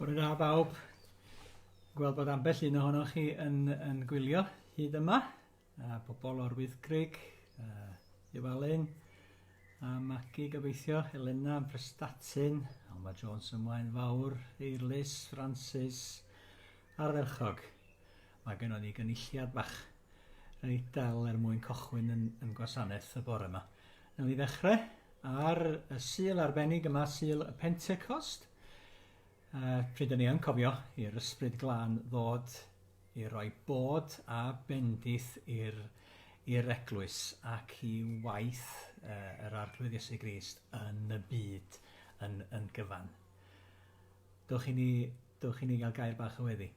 Bore da bawb. Gweld bod ambell un ohonoch chi yn, yn gwylio hyd yma. A pobl o'r Wyddgrug, uh, Iwalyn, a Magi gobeithio, Helena, Prestatyn, Alma Jones ymlaen fawr, Eirlys, Francis, Ardderchog! Mae gennon ni gynulliad bach reit dal er mwyn cochwyn yn, yn gwasanaeth y bore yma. Newn ni ddechrau ar y Sul arbennig yma, Sul y Pentecost, uh, pryd ni yn cofio i'r ysbryd glân ddod i roi bod a bendith i'r i'r eglwys ac i waith uh, yr arglwydd Iesu Grist yn y byd yn, yn gyfan. Dewch i ni Dewch i ni gael gair bach o weddi.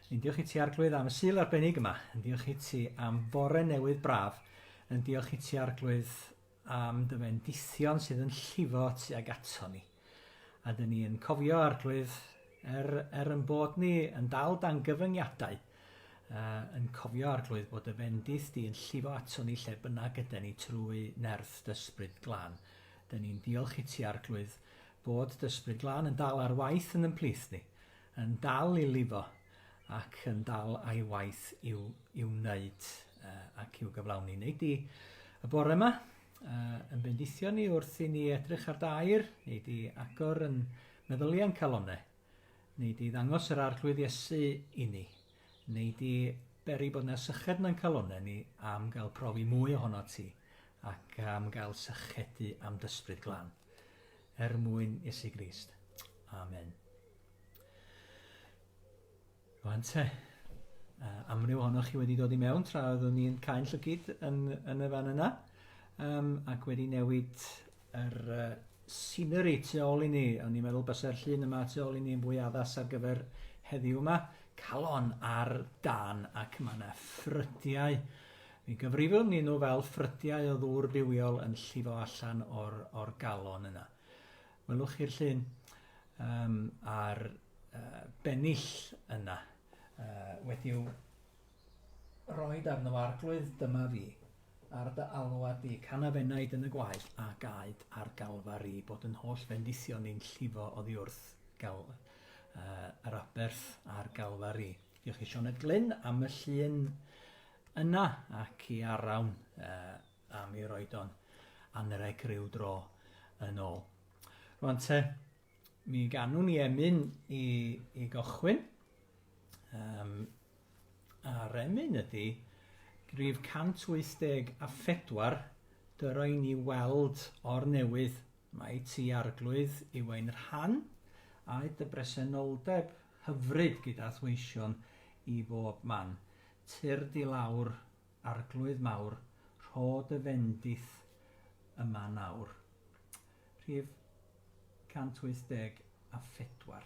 Yn diolch i ti Arglwydd am y sul arbennig yma. Yn diolch i ti am fore newydd braf. Yn diolch i ti Arglwydd am dy fendithion sydd yn llifo tu ag ato ni. A dyn ni yn cofio Arglwydd er, er yn bod ni yn dal dan gyfyngiadau, uh, yn cofio Arglwydd bod y fendith di yn llifo ato ni lle bynnag ydy ni trwy nerth dysbryd glân. Dyn ni'n diolch i ti Arglwydd Bod d'Ysbryd Glân yn dal ar waith yn 'n plith ni, yn dal i lifo, ac yn dal a'i waith i'w, i'w wneud ac i'w gyflawni. Neu di y bore yma yn bendithio ni wrth i ni edrych ar dair, neu di agor yn meddyliau'n calonau, neu di ddangos yr arglwydd Iesu i ni, neu di beri bod yna syched na'n calonau ni am gael profi mwy ohono ti, ac am gael sychedu am dysbryd glân. er mwyn Iesu Grist. Amen. Rwan te, uh, amryw ohonoch chi wedi dod i mewn tra oeddwn ni'n cael llygyd yn, yn y fan yna, um, ac wedi newid yr uh, scenery tu ôl i ni. O'n i'n meddwl bysa'r llun yma tu ôl i ni yn fwy addas ar gyfer heddiw yma. Calon ar dan ac mae yna ffrydiau Mi gyfrifwn i nhw fel ffrydiau o ddŵr bywiol yn llifo allan o'r, or galon yna. Welwch chi'r llun um, a'r uh, bennill yna uh, wedi'w roi arno fo arglwydd dyma fi ar dy alwa di, canaf enaid yn y gwaed a gaed ar galfari bod yn holl fendithion ni'n llifo oddi wrth gal, uh, yr aberth a'r galfari. Diolch i Sioned Glyn am y llun yna ac i Arawn uh, am i roed o'n anreg rhyw dro yn ôl. Rwan te, mi ganwn i emyn i, i gochwyn. Um, a'r emyn ydy grif 184 dyro i ni weld o'r newydd mae ti arglwydd i wain rhan a dy bresenoldeb hyfryd gyda thweision i bob man, tyrd di lawr, arglwydd mawr, rho dy fendith yma nawr. Rhif 184.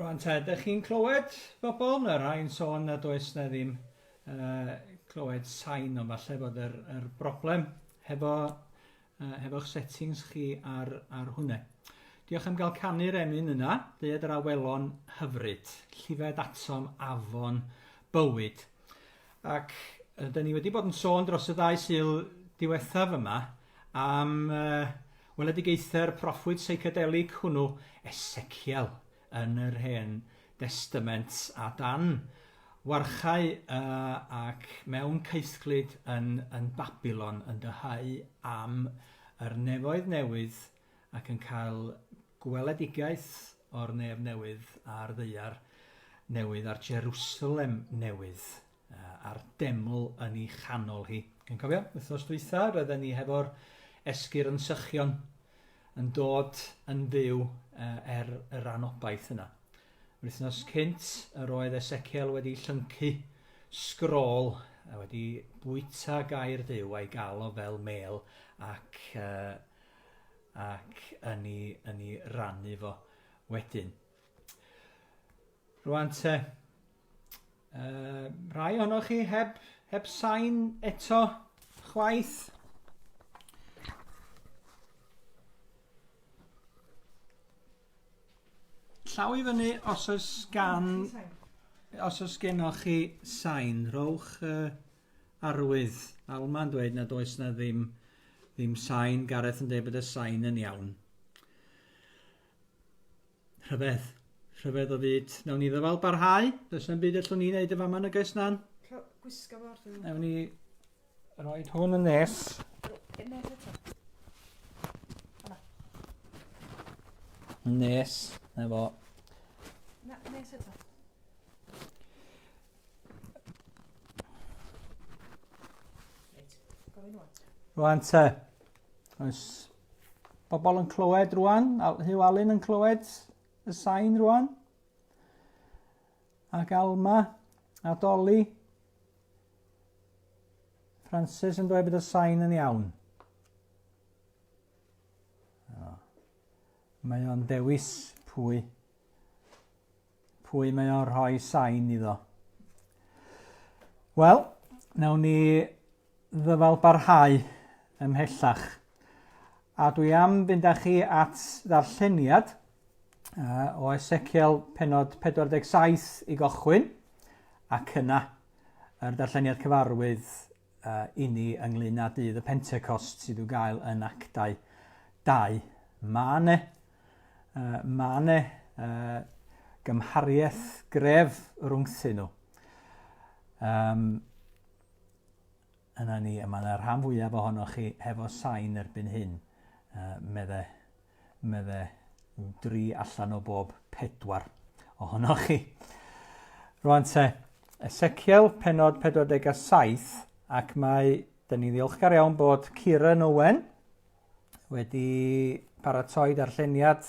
Rwan ta, ydych chi'n clywed bobl? Mae rhai'n sôn nad oes na ddim uh, clywed sain, ond falle bod yr, yr broblem hefo, uh, hefo'ch settings chi ar, ar hwnna. Diolch am gael canu'r emyn yna, dyd yr awelon hyfryd, llifed atom afon bywyd. Ac yy 'dyn ni wedi bod yn sôn dros y ddau sul diwethaf yma am yy weledigaethau'r proffwyd seicadelig hwnnw, Eseciel, yn yr Hen Destament, a dan warchau uh, ac mewn caethglyd yn, yn Babylon yn dyhau am yr nefoedd newydd ac yn cael gweledigaeth o'r nef newydd a'r ddaear newydd a'r Jerusalem newydd a'r deml yn ei chanol hi. Yn cofio, wythnos dwytha, roedden ni hefo'r esgir yn sychion yn dod yn fyw er y rhan obaith yna. Yr wythnos cynt, yr oedd Ezekiel wedi llyncu sgrôl a wedi bwyta gair Duw a'i gael o fel mêl ac uh, ac yn ei, yn ei rannu fo wedyn. Rwan te, uh, rhai ohonoch chi heb, heb sain eto chwaith. Llaw i fyny os oes gan os oes gennoch chi sain, rhowch uh, Arwydd. Alma'n dweud nad oes na ddim ddim sain. Gareth yn dweud bod y sain yn iawn. Rhyfedd. Rhyfedd o fyd. Nawn ni ddyfal barhau. Does na'm byd allwn ni wneud y fama yn y gais nan. Gwisga fo ar Nawn ni roi hwn yn nes. Nes. Na fo. Na, nes eto. Rwan te. Oes bobl yn clywed rwan? Hugh Allen yn clywed y sain rwan? Ac Alma a Dolly. Francis yn dweud bod y sain yn iawn. Mae o'n dewis pwy Pwy mae o'n rhoi sain iddo? Wel, nawn ni ddyfal barhau ymhellach. A dwi am fynd â chi at ddarlleniad uh, o Ezekiel penod 47 i gochwyn, ac yna yr darlleniad cyfarwydd inni ynglŷn â Dydd y Pentecost sydd i'w gael yn Actau 2. Mae yna uh, mae yna uh, gymhariaeth gref rhwngthyn nhw. Um, yna ni, a mae yna rhan fwyaf ohonoch chi hefo sain erbyn hyn, uh, meddai medde dri allan o bob pedwar ohonoch chi. Rwan te, Ezekiel, penod 47, ac mae, dyn ni ddiolchgar iawn bod Ciren Owen wedi paratoi darlleniad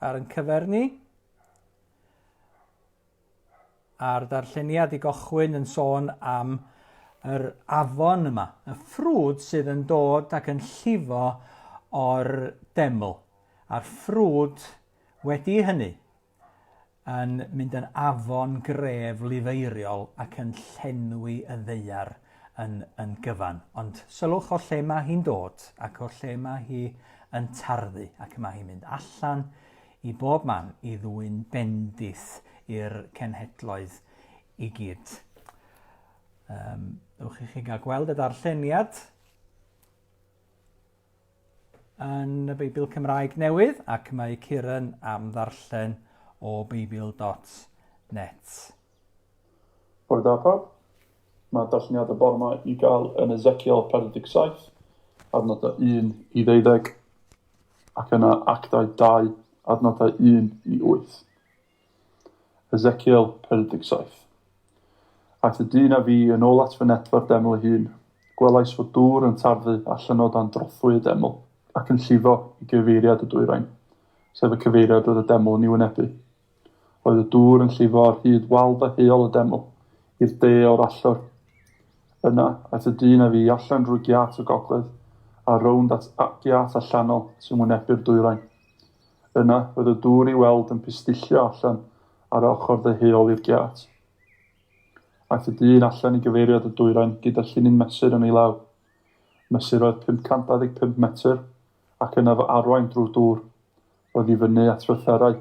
ar yn cyfer ni. a'r darlleniad i gochwyn yn sôn am yr afon yma, y ffrwd sydd yn dod ac yn llifo o'r deml, a'r ffrwd wedi hynny yn mynd yn afon gref lifeiriol ac yn llenwi y ddeiar yn, yn gyfan. Ond sylwch o lle mae hi'n dod ac o lle mae hi yn tarddu ac mae hi'n mynd allan i bob man i ddwyn bendith i'r cenhedloedd i gyd. Um, ewch i chi gael gweld y darlleniad yn y Beibl Cymraeg newydd ac mae Ciran am ddarllen o beibl.net. Bore da pawb. Mae darlleniad y bore yma i gael yn Ezekiel 47, adnodau 1 i ddeuddeg, ac yna Actau 2, adnodau 1 i 8. Ezekiel 47. Aeth y dyn a fi yn ôl at fy netfa'r deml ei hun. Gwelais fod dŵr yn tarddu a llynnodd dan drothwy y deml, ac yn llifo i gyfeiriad y dwyrain, sef y cyfeiriad roedd y deml yn ei wynebu. Roedd y dŵr yn llifo ar hyd wal da heol y deml, i'r de o'r allor. Yna, at y dyn a fu allan drwy giât y gogledd, a rownd at giât allanol sy'n wynebu'r dwyrain. Yna, roedd y dŵr i weld yn pistillio allan ar ochr dde heol i'r giât. Aeth y dyn allan i gyfeiriad y dwyrain gyda llinyn mesur yn ei law. Mesurodd 525 metr, ac yna fo arwain drwy'r dŵr. oddi fyny at fytherau.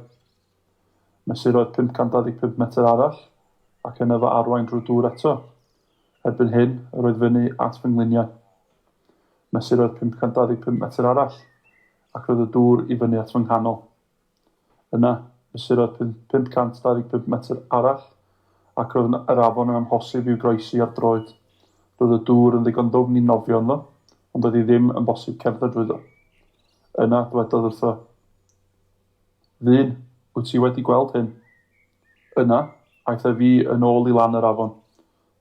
Mesurodd 525 metr arall, ac yna fy arwain drwy dŵr eto. Erbyn hyn, yr oedd fyny at fy ngliniau. Mesurodd 525 metr arall, ac roedd y dŵr i fyny at fy nghanol. Yna, mesurodd 525 metr arall, ac roedd yr afon yn amhosib i'w groesi ar droed. Roedd y dŵr yn ddigon ddwfn i nofio ynddo, ond oedd hi ddim yn bosib cerdded drwyddo. Yna dwedodd wrtho, Ddyn, wyt ti wedi gweld hyn? Yna, aeth ef i yn ôl i lan yr afon.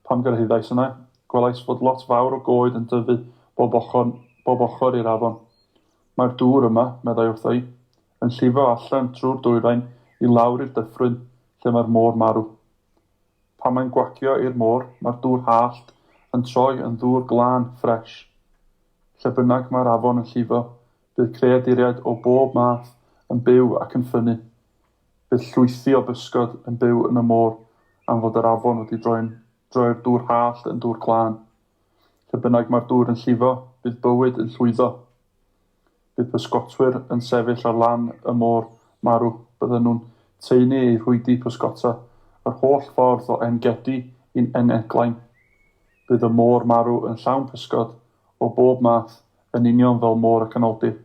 Pan gyrhaeddais yna, gwelais fod lot fawr o goed yn dyfu bob ochr, bob ochr i'r afon. Mae'r dŵr yma, meddai wrtho i, yn llifo allan trwy'r dwyrain i lawr i'r dyffryn lle mae'r môr marw. Pan mae'n gwagio i'r môr, mae'r dŵr hallt yn troi yn ddŵr glân, ffres. Lle bynnag mae'r afon yn llifo, bydd creaduriaid o bob math yn byw ac yn ffynnu. Bydd llwythi o bysgod yn byw yn y môr am fod yr afon wedi droi'n droi'r dŵr hallt yn ddŵr glân. Lle bynnag mae'r dŵr yn llifo, bydd bywyd yn llwyddo. Bydd pysgotwyr yn sefyll ar lan y môr marw. Bydden nhw'n taenu eu rhwydi pysgota yr holl ffordd o En-gedi i'n En-eglain. Bydd y môr marw yn llawn pysgod o bob math yn union fel Môr y Canoldir.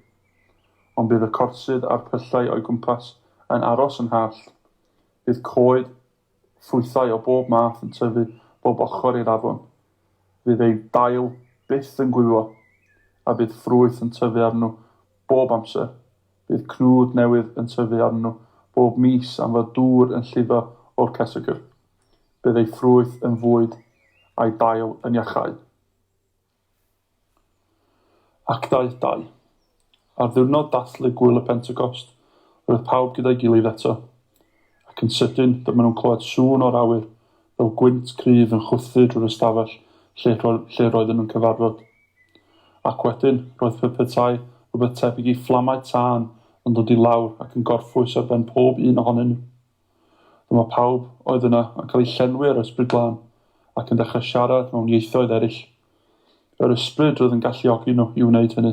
Ond bydd y corsydd a'r pyllau o'i gwmpas yn aros yn hallt. Bydd coed Ffrwythau o bob math yn tyfu bob ochr i'r afon. Fydd eu dail byth yn gwywo, a bydd ffrwyth yn tyfu arnyn nhw bob amser. Bydd cnwd newydd yn tyfu arnyn nhw bob mis am fod dŵr yn llifo o'r cesegr. Bydd eu ffrwyth yn fwyd, a'u dail yn iachau. Actau ii. Ar ddiwrnod dathlu Gŵyl y Pentecost, roedd pawb gyda'i gilydd eto. Ac yn sydyn, dyma nhw'n clywed sŵn o'r awyr, fel gwynt cryf yn chwythu drwy'r ystafell lle lle roedden nhw'n cyfarfod. Ac wedyn, roedd pe petai rhywbeth tebyg i fflamau tân yn dod i lawr ac yn gorffwys ar ben pob un ohonyn nhw. Dyma pawb oedd yna yn cael eu llenwi â'r Ysbryd Glân ac yn dechrau siarad mewn ieithoedd eraill. Yr Ysbryd oedd yn galluogi nhw i wneud hynny.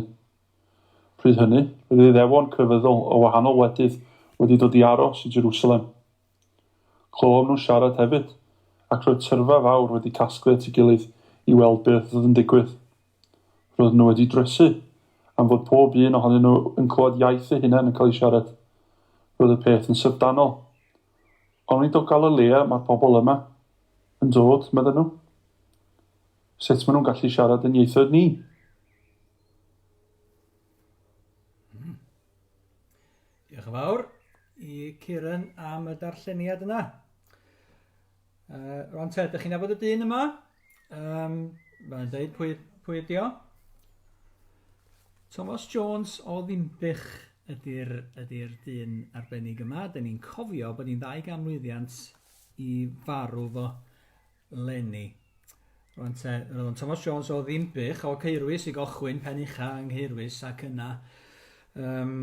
Pryd hynny, roedd Iddewon crefyddol o wahanol wledydd wedi dod i aros i Jerusalem. Clywom nhw siarad hefyd, ac roedd tyrfa fawr wedi casglu at ei gilydd i weld beth oedd yn digwydd. Roedden nhw wedi drysu am fod pob un ohonyn nhw yn clywed iaith eu hunain yn cael ei siarad. Roedd y peth yn syfrdanol. Ond nid o Galilea mae'r pobl yma yn dod, medden nhw. Sut maen nhw'n gallu siarad yn ieithoedd ni? Hmm. Diolch yn fawr i Kieran am y darlleniad yna. Uh, Rwan te, ydych chi'n nabod y dyn yma? Um, Mae'n dweud pwy, pwy ydi o? Thomas Jones o Ddimbych ydy'r ydy dyn arbennig yma. Dyn ni'n cofio bod ni'n ddau ganmlwyddiant i farw fo lenni. Rwan te, roedd o'n Thomas Jones o Ddimbych o Ceirwys i gochwyn pen ucha yng Ngheirwys ac yna um,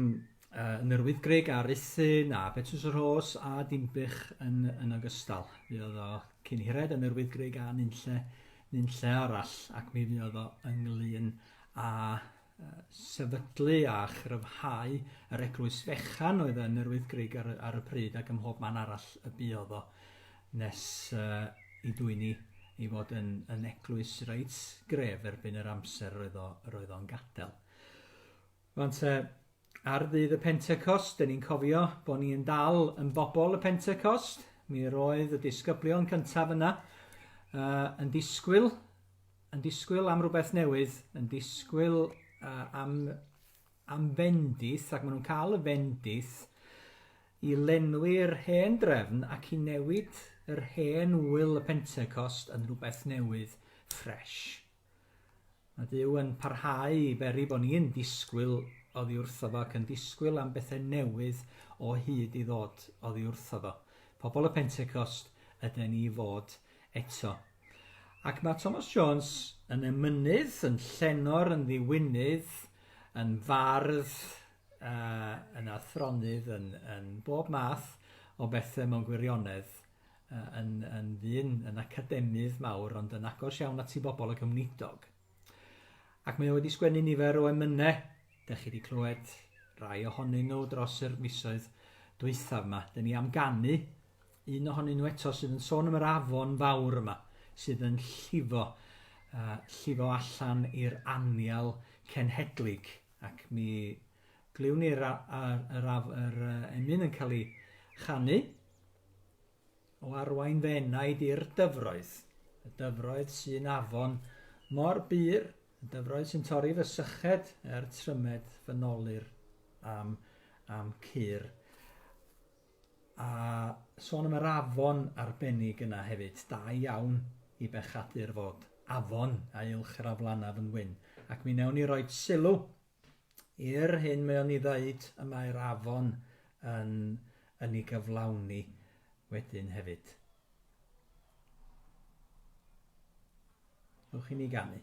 Uh, Nyrwydd Grug a Ruthin a Betws y Rhos a Dinbych yn, yn ogystal. Mi oedd o cyn hired yn Nyrwydd Grug a nunlle, nunlle arall ac mi oedd o ynglyn a sefydlu a chryfhau yr eglwys fechan oedd yn Nyrwydd Grug ar, ar y pryd ac ymhob man arall y bu oedd o nes uh, i dwyni i fod yn, yn eglwys reit gref erbyn yr amser roedd o'n o'n gadael. Wan te, ar ddydd y Pentecost, dyn ni'n cofio bod ni'n dal yn bobl y Pentecost. Mi roedd y disgyblion cyntaf yna uh, yn disgwyl, yn disgwyl am rhywbeth newydd, yn disgwyl uh, am, am fendith, ac maen nhw'n cael y fendith i lenwi'r hen drefn ac i newid yr hen wyl y Pentecost yn rhywbeth newydd, ffres. Mae Duw yn parhau i beri bod ni'n disgwyl oddi wrtho fo ac yn disgwyl am bethau newydd o hyd i ddod oddi wrtho fo. Pobl y Pentecost yden ni i fod eto. Ac mae Thomas Jones yn emynydd, yn llenor, yn ddiwinydd, yn fardd, uh, yn athronydd, yn, yn bob math o bethau mewn gwirionedd. yn, yn ddyn, yn academydd mawr, ond yn agos iawn at i bobl ac ymwneudog. Ac mae o wedi sgwennu nifer o emynau, da chi wedi clywed rai ohonyn nhw dros yr misoedd dwythaf yma. Dyn ni am ganu un ohonyn nhw eto sydd yn sôn am yr afon fawr yma, sydd yn llifo, uh, llifo allan i'r anial cenhedlig, ac mi glywn ni'r yr, yr, yr, yr emyn yn cael ei chanu, o arwain fy enaid i'r dyfroedd, y dyfroedd sy'n afon mor bur, y dyfroedd sy'n torri fy syched er trymed fy nolir am, am cur. A sôn am yr afon arbennig yna hefyd, da iawn i bechadur fod afon a uwch yr aflanaf yn wyn, ac mi newn ni roi sylw I'r hyn mae o'n ei ddeud, y mae'r afon yn yn ei gyflawni wedyn hefyd. Ewch i mi ganu.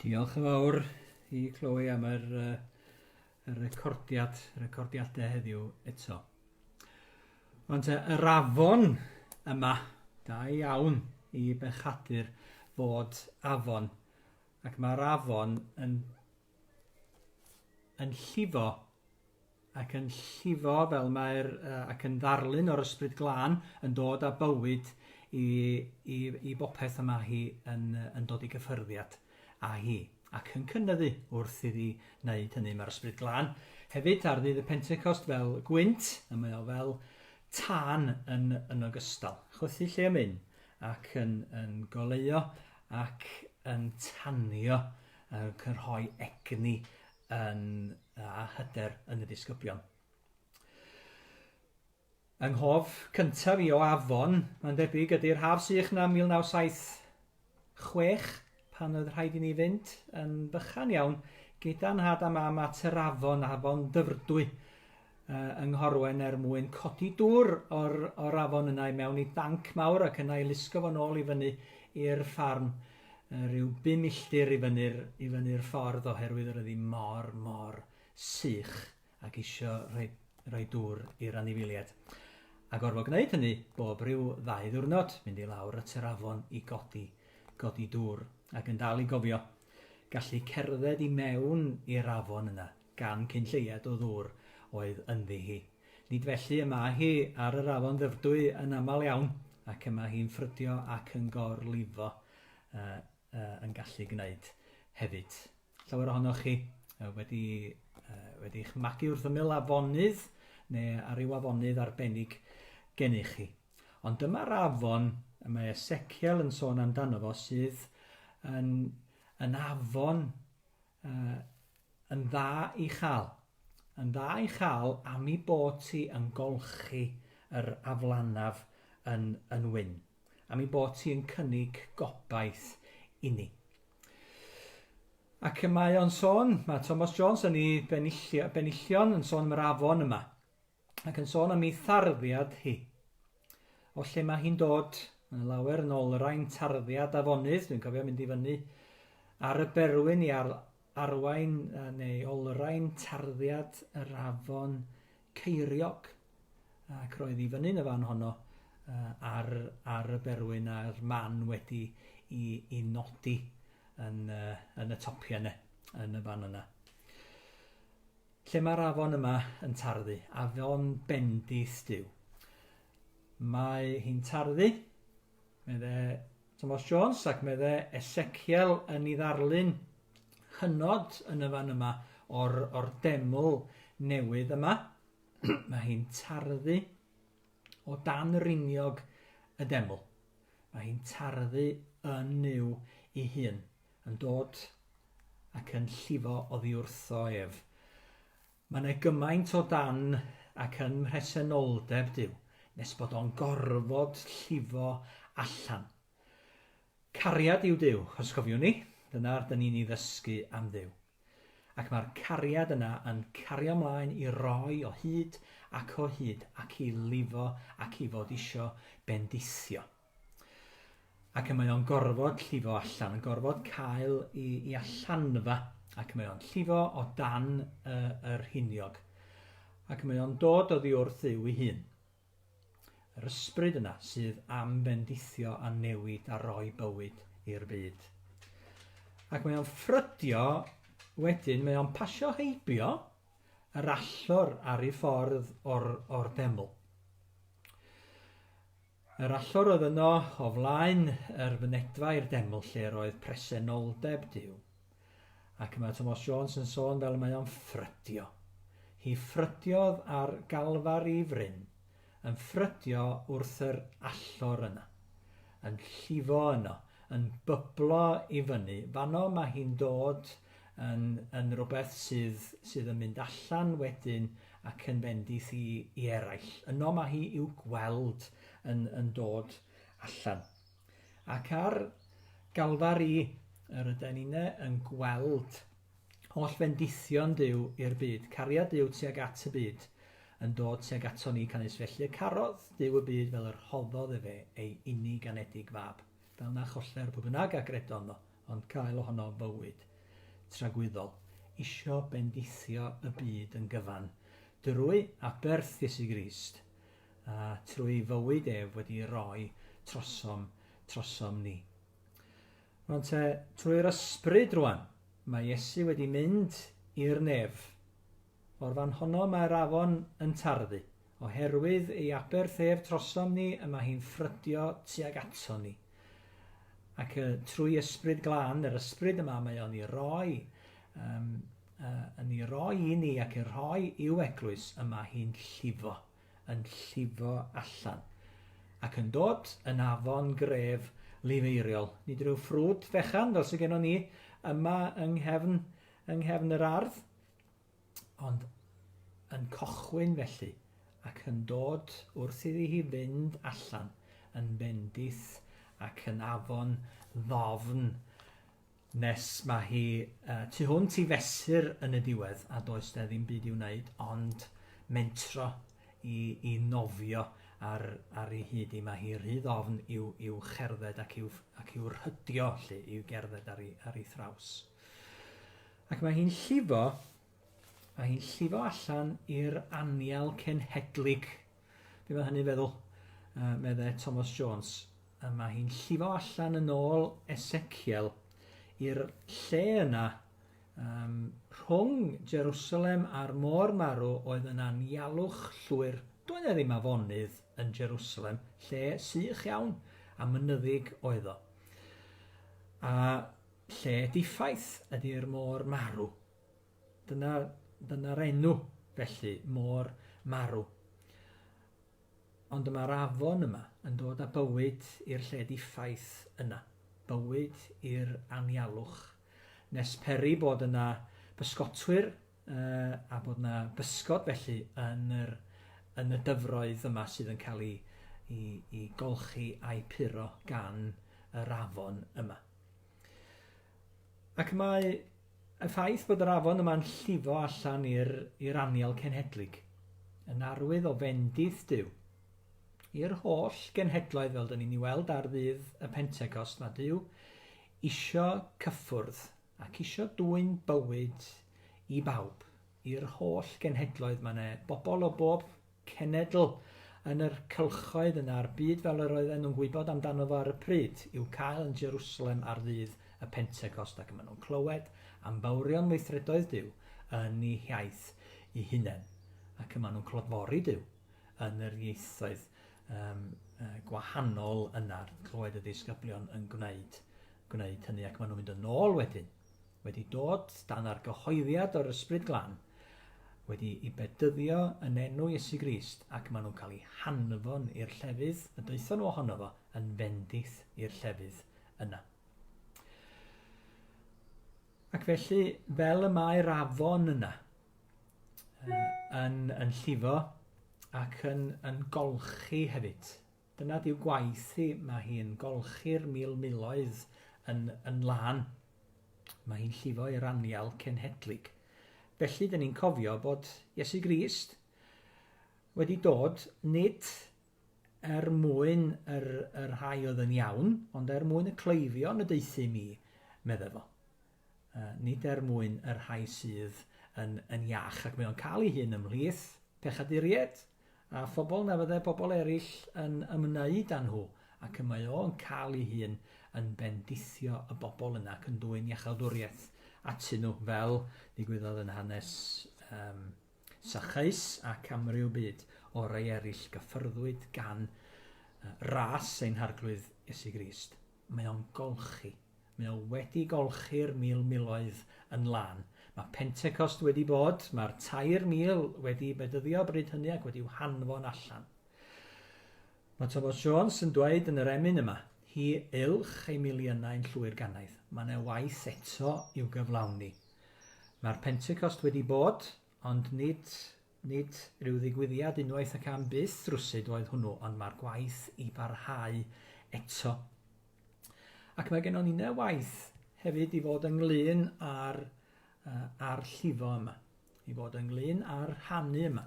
Diolch yn fawr i Chloe am yr, uh, y recordiad, recordiadau heddiw eto. Ond uh, yr afon yma, da iawn i bechadur fod afon. Ac mae'r afon yn yn llifo ac yn llifo fel mae'r uh, ac yn ddarlun o'r ysbryd glân yn dod â bywyd i, i, i bopeth y mae hi yn, yn dod i gyffyrddiad â hi ac yn cynnyddu wrth iddi wneud hynny. Mae'r ysbryd glân hefyd ar ddydd y Pentecost fel gwynt, a mae o fel tân yn, yn ogystal. Chwythu lle am un ac yn, yn goleuo ac yn tanio yn cynrhoi egni yn, a hyder yn y disgyblion. Yng nghof cyntaf i o afon, mae'n debyg, ydy'r haf sych na 1976, pan oedd rhaid i ni fynd yn bychan iawn gyda nhad a mam at yr afon, afon Dyfrdwy, yy, yng Nghorwen er mwyn codi dŵr o'r, o'r afon yna i mewn i danc mawr ac yna i lusgo fo'n ôl i fyny i'r ffarm yy, rhyw bum milltir i fyny'r, i fyny'r ffordd oherwydd yr ydi mor, mor sych ac isio rhoi, rhoi dŵr i'r anifiliaid. A gorfod gwneud hynny bob rhyw ddau ddiwrnod, mynd i lawr at yr afon i godi, godi dŵr ac yn dal i gofio gallu cerdded i mewn i'r afon yna gan cyn lleied o ddŵr oedd ynddi hi. Nid felly y mae hi ar yr afon Ddyfrdwy yn aml iawn, ac y mae hi'n ffrydio ac yn gor-lifo yy yy yn gallu gwneud hefyd. Llawer ohonoch chi yy wedi yy wedi'ch magu wrth ymyl afonydd neu ar ryw afonydd arbennig gennych chi. Ond dyma'r afon y mae Esekiel yn sôn amdano fo sydd yn yn afon Uh, yn dda i chael. Yn dda i chael am i bod ti yn golchi yr aflanaf yn, yn wyn. Am i bod ti yn cynnig gobaith i ni. Ac y mae o'n sôn, mae Thomas Jones yn ei benillion yn sôn am yr afon yma. ac yn sôn am ei tharddiad hi. O lle mae hi'n dod, yn lawer yn ôl yr ein tarddiad afonydd, dwi'n cofio mynd i fyny ar y berwyn i ar, arwain neu olrhain tarddiad yr afon Ceiriog ac roedd i fyny'n y fan honno uh, ar, ar y berwyn a'r man wedi i, i nodi yn, uh, yn y topiau yna, yn y fan yna. Lle mae'r afon yma yn tarddu? Afon bendith Duw. Mae hi'n tarddu, medde Thomas Jones, ac medde Ezekiel yn ei ddarlun hynod yn y fan yma o'r, or deml newydd yma. Mae hi'n tarddu o dan riniog y deml. Mae hi'n tarddu yn yw ei hun. yn dod ac yn llifo oddiwrtho ef. Mae yna gymaint o dan ac yn mhresenoldeb Duw nes bod o'n gorfod llifo allan. Cariad yw Duw, os cofiwn ni, dyna rydyn ni'n ei ddysgu am Dduw. Ac mae'r cariad yna yn cario mlaen i roi o hyd ac o hyd ac i lifo ac i fod isio bendithio. ac y mae o'n gorfod llifo allan, yn gorfod cael i, i allanfa, ac y mae o'n llifo o dan y, y rhiniog, ac y mae o'n dod oddi wrth yw ei hun. Yr ysbryd yna sydd am fendithio a newid a roi bywyd i'r byd. Ac mae o'n ffrydio, wedyn mae o'n pasio heibio yr allor ar ei ffordd o'r, or deml. Yr allor oedd yno, o flaen yr fynedfa i'r deml lle'r oedd presenoldeb Duw. Ac mae Tomos Jones yn sôn fel y mae o'n ffrydio. Hi ffrydiodd ar Galfari fryn, yn ffrydio wrth yr allor yna. Yn llifo yno, yn byblo i fyny, fanno mae hi'n dod yn yn rwbeth sydd sydd yn mynd allan wedyn ac yn bendith i i eraill. Yno mae hi i'w gweld yn yn dod allan. Ac ar Galfari yr yden ni'n yn gweld holl fendithion Duw i'r byd, cariad Duw tuag at y byd, yn dod tuag ato ni canys felly y carodd Duw y byd fel yr hoddodd efe ei unig anedig fab, fel na choller pwy bynnag a gredono ond cael ohono fywyd tragwyddol, isio bendithio y byd yn gyfan, drwy aberth Iesu Grist, a trwy fywyd ef wedi roi trosom, trosom ni. Rwan te, trwy'r ysbryd rwan, mae Iesu wedi mynd i'r nef, O'r fan honno mae'r afon yn tarddu. Oherwydd ei aberthêf trosom ni y mae hi'n ffrydio tuag aton ni. Ac y, trwy Ysbryd Glân, yr Ysbryd yma mae o'n i roi, um, uh, yn i roi i ni ac i rhoi i'w eglwys y mae hi'n llifo, yn llifo allan. Ac yn dod yn afon gref lifeiriol, nid rhyw ffrwd fechan fel sy'n gennon ni yma yng nghefn, yng nghefn yr ardd, Ond yn cochwyn felly, ac yn dod wrth iddi hi fynd allan yn bendith ac yn afon ddofn nes mae hi uh, tu hwnt i fesur yn y diwedd a does na ddim byd i wneud ond mentro i, i nofio ar, ar ei hyd i mae hi rhy ddofn i'w, i'w cherdded ac i'w, ac i'w rhydio lle i'w gerdded ar ei, ar ei thraws. Ac mae hi'n llifo, mae hi'n llifo allan i'r anial cenhedlig. Be mae hynny'n feddwl? Uh, meddai Thomas Jones. A mae hi'n llifo allan yn ôl Ezekiel i'r lle yna um, rhwng Jerusalem a'r môr marw oedd yn anialwch llwyr. Doedd e ddim afonydd yn Jerusalem, lle sych iawn a mynyddig oedd o. A Lle diffaith ydi'r môr marw. Dyna, dyna'r enw, felly, môr marw. Ond y mae'r afon yma yn dod â bywyd i'r lle diffaith yna, bywyd i'r anialwch, nes peri bod yna bysgotwyr uh, a bod yna bysgod felly yn, yr, yn y dyfroedd yma sydd yn cael ei, ei, ei golchi a'i puro gan yr afon yma. Ac mae y ffaith bod yr afon yma'n llifo allan i'r i'r anial cenhedlig yn arwydd o fendith Duw i'r holl genhedloedd fel dyn ni'n ei weld ar ddydd y Pentecost mae Duw isio cyffwrdd ac isio dwyn bywyd i bawb i'r holl genhedloedd mae yna bobl o bob cenedl yn yr cylchoedd yna a'r byd fel yr oedden nhw'n gwybod amdano fo ar y pryd, i'w cael yn Jerusalem ar ddydd y Pentecost ac y maen nhw'n clywed am fawrion weithredoedd Duw yn eu hiaith eu hunain ac y maen nhw'n clodfori Duw yn yr ieithoedd um, uh, gwahanol yna, clywed y ddisgyblion yn gwneud, gwneud hynny ac maen nhw'n mynd yn ôl wedyn. wedi dod dan argyhoeddiad o'r Ysbryd Glân, wedi i bedyddio yn enw Iesu Grist, ac maen nhw'n cael eu hanfon i'r llefydd y daethon nhw ohono fo, yn fendith i'r llefydd yna. Ac felly, fel y mae'r afon yna, yn, yn llifo ac yn, yn golchi hefyd, Dyna yw gwaith hi, mae hi'n golchi'r mil miloedd yn yn lân. Mae hi'n llifo i'r anial cenhedlig. Felly, dyn ni'n cofio bod Iesu Grist wedi dod nid er mwyn yr, yr rhai oedd yn iawn, ond er mwyn y cleifion y deuthum i, medde fo. nid er mwyn y rhai sydd yn yn iach, ac mae o'n cael ei hun ymhlith pechaduriaid a phobl na fyddai pobl eraill yn ymwneud â nhw, ac y mae o'n cael ei hun yn bendithio y bobl yna ac yn dwyn iachawdwriaeth atyn nhw, fel ddigwyddodd yn hanes um, Sachaeus ac amryw byd o rai eraill gyffyrddwyd gan uh, ras ein harglwydd Iesu Grist. Mae o'n golchi. Mae o wedi golchi'r mil miloedd yn lân. Mae Pentecost wedi bod, mae'r tair mil wedi bedyddio bryd hynny ac wedi'w hanfon allan. Mae Thomas Jones yn dweud yn yr emyn yma, hi ylch ei miliynau yn llwy'r ganaidd. Mae yna waith eto i'w gyflawni. Mae'r Pentecost wedi bod, Ond nid, nid ryw ddigwyddiad unwaith ac am byth rywsut oedd hwnnw, ond mae'r gwaith i barhau eto. Ac mae gennon ni ne waith hefyd i fod ynglyn â'r, uh, ar llifo yma, i fod ynglyn â'r rhannu yma.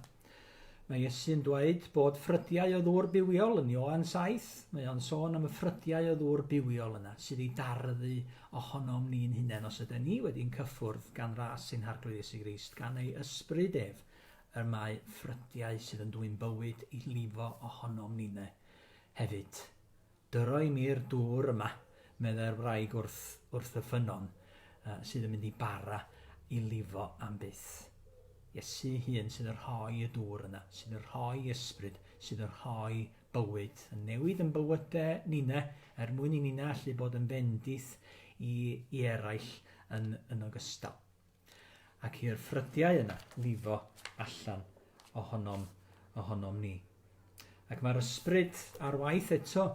Mae Iesu'n dweud bod ffrydiau o ddŵr bywiol yn Ioan 7. Mae o'n sôn am y ffrydiau o ddŵr bywiol yna sydd ei darfu ohonom ni'n hunain os yden ni wedi yn cyffwrdd gan ras sy'n Harglwydd Iesu Grist, gan ei Ysbryd ef, yr mae ffrydiau sydd yn dwyn bywyd i lifo ohonom nine hefyd. Dyro i mi'r dŵr yma, meddai'r wraig wrth, wrth y ffynnon, sydd yn mynd i bara i lifo am byth. Iesu hun sydd yn rhoi y dŵr yna, sydd yn rhoi Ysbryd, sydd yn rhoi bywyd yn newid yn bywyde nina er mwyn i nina allu bod yn fendith i, i eraill yn, yn ogystal. Ac i'r ffrydiau yna lifo allan ohonom, ohonom ni. Ac mae'r ysbryd ar waith eto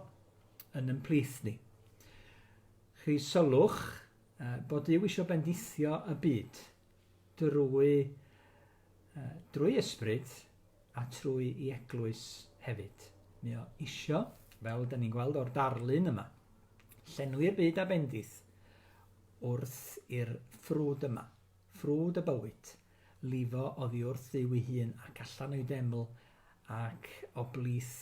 yn ymplith ni. Chi sylwch bod Dyw eisiau bendithio y byd drwy yy drwy ysbryd a trwy i eglwys hefyd. Mae o isio, fel da ni'n gweld o'r darlun yma, llenwi'r byd a bendith wrth i'r ffrwd yma, ffrwd y bywyd, lifo oddi wrth Dduw ei hun ac allan o'i deml ac o blith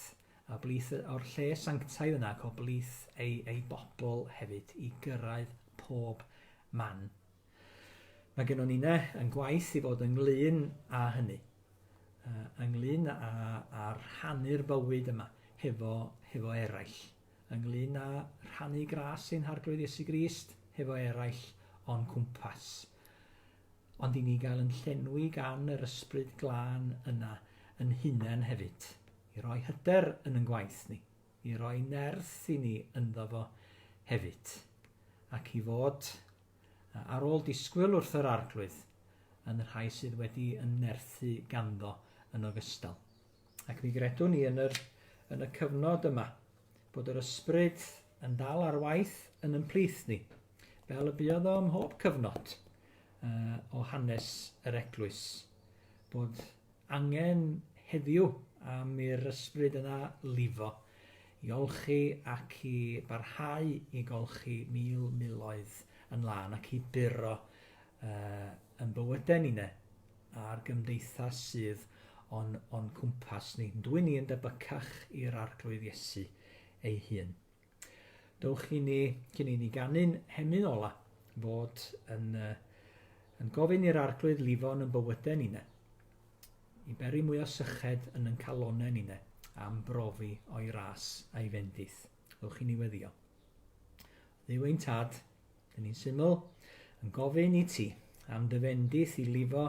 a blith o'r lle sanctaidd yna ac o blith ei, ei bobl hefyd i gyrraedd pob man. Mae gennon ni ne yn gwaith i fod ynglyn â hynny, ynglyn â, â rhannu'r bywyd yma hefo, hefo eraill, ynglyn â rhannu gras ein harglwydd Iesu Grist hefo eraill o'n cwmpas. Ond i ni gael yn llenwi gan yr ysbryd glân yna yn hunain hefyd, i roi hyder yn yn gwaith ni, i roi nerth i ni ynddo fo hefyd, ac i fod ar ôl disgwyl wrth yr Arglwydd, yn y rhai sydd wedi ymnerthu ganddo yn ogystal. Ac mi gredwn ni yn, yr, yn y cyfnod yma bod yr ysbryd yn dal ar waith yn ymplith ni, fel y buodd o ym mhob cyfnod uh, o hanes yr eglwys, bod angen heddiw am i'r ysbryd yna lifo i olchi ac i barhau i golchi mil miloedd yn lân ac i buro uh, yn bywydau ni ne, a'r gymdeithas sydd o'n, on cwmpas ni. Dwi ni yn debycach i'r arglwydd Iesu ei hun. Dowch i ni, cyn i ni ganu'n hemyn ola, fod yn, uh, yn gofyn i'r arglwydd lifo yn y bywydau ni ne. I beri mwy o syched yn yn calonau ni ne, am brofi o'i ras a'i fendith. Dowch i ni weddio. Ddew ein tad, Yn un syml, yn gofyn i ti am dy fendith i lifo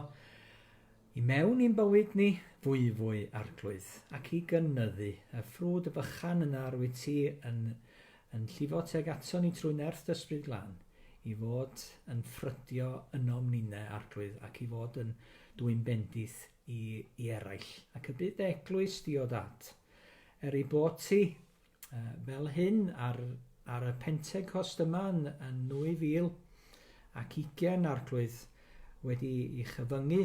i mewn i'n bywyd ni fwyfwy arglwydd ac i gynyddu y ffrwd fychan yn ar wyt ti yn, yn llifo teg ato ni trwy nerth dysbryd glan i fod yn ffrydio ynom ninne arglwydd ac i fod yn dwy'n bendith i, i eraill ac y bydd dy eglwys di o dad. Er ei bod ti fel hyn ar, ar y Pentecost yma yn, yn 2000 ac 20 arglwydd wedi i chyfyngu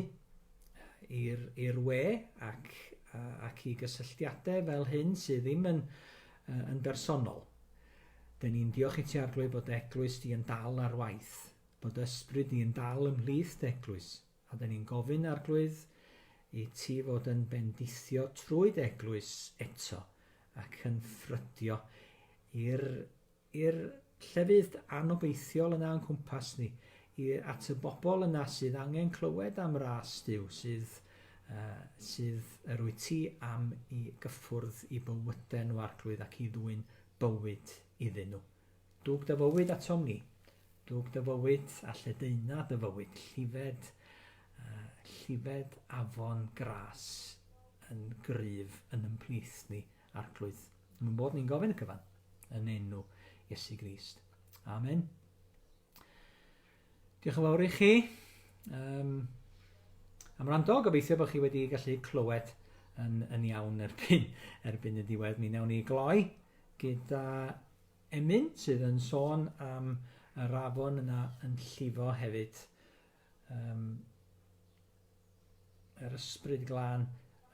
i'r we ac, ac i gysylltiadau fel hyn sydd ddim yn, yn bersonol. Dyn ni'n diolch i ti arglwydd bod eglwys di yn dal ar waith, bod ysbryd di yn dal ymhlith eglwys. Oedden ni'n gofyn, Arglwydd, i Ti fod yn bendithio trwy Dy Eglwys eto, ac yn ffrydio i'r, i'r llefydd anobeithiol yna o'n cwmpas ni, i, at y bobl yna sydd angen clywed am ras Duw, sydd, uh, sydd yr wyt Ti am i gyffwrdd i bywyden nhw, Arglwydd, ac i ddwyn bywyd iddyn nhw. Dug dy fywyd atom ni. Dug dy fywyd a lledaena dy fywyd, llifed, llifed afon gras yn gryf yn ymplith ni, arglwydd. Yn mynd bod ni'n gofyn y cyfan, yn enw Iesu Grist. Amen. Diolch yn fawr i chi. Um, am rando, gobeithio bod chi wedi gallu clywed yn, yn iawn erbyn, erbyn y diwedd. Mi wnawn ni gloi gyda Emyn sydd yn sôn am yr afon yna yn llifo hefyd, um, yr ysbryd glân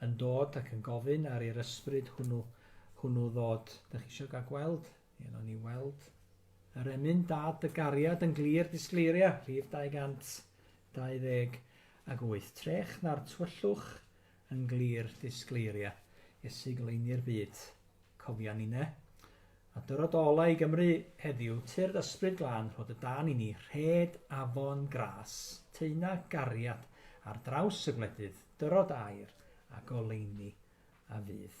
yn dod ac yn gofyn ar i'r ysbryd hwnnw, hwnnw ddod. Dych chi eisiau gael gweld? Ie, no ni weld. Yr emyn dad y gariad yn glir disgleiria, rhif 228. Ac wyth trech na'r twyllwch yn glir disgleiria Iesu goleuni'r byd. Cofia ninne. A dyrod ola i Gymru heddiw, tyrd ysbryd glân rhod y dan i ni, rhed afon gras, teuna gariad ar draws y gwledydd, dyrod air a goleuni a fydd.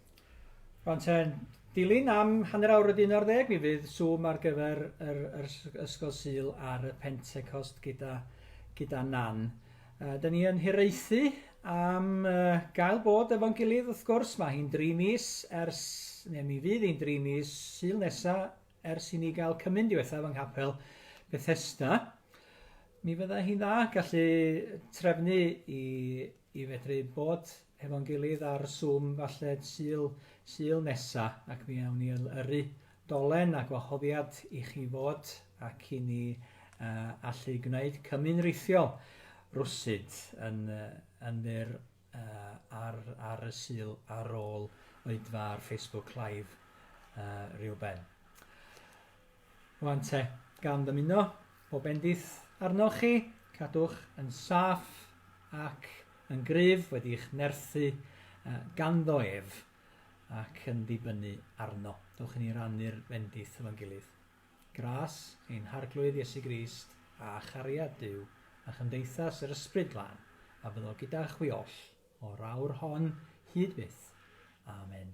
Rwan ten, dilyn am hanner awr wedi 11 mi fydd Zoom ar gyfer yr, yr Ysgol Sul ar y Pentecost gyda, gyda Nan. Uh, da ni yn hiraethu am uh, gael bod efo'n gilydd wrth gwrs, mae hi'n dri mis ers, neu mi fydd hi'n dri mis syl nesa ers i ni gael cymyn diwethaf yng nghapel Bethesda. Mi fydda hi'n dda gallu trefnu i i fedru bod hefo'n gilydd ar Zoom falle Sul, Sul nesa, ac mi awn ni y- yrru dolen a gwahoddiad i chi fod ac i ni uh, allu gwneud cymun rithiol rwsyd yn, uh, yn fyr uh, ar, ar y Sul ar ôl oedfa ar Facebook Live uh, rhyw ben. Rwan te, gan ddymuno bob bendith arnoch chi, cadwch yn saff ac yn gryf wedi'ch nerthu ganddo ef ac yn dibynnu arno. Dewch i ni rannu'r bendith efo'n gilydd. Gras ein Harglwydd Iesu Grist a chariad Duw a chymdeithas yr Ysbryd Glân a fyddo gyda chwi oll o'r awr hon hyd byth. Amen.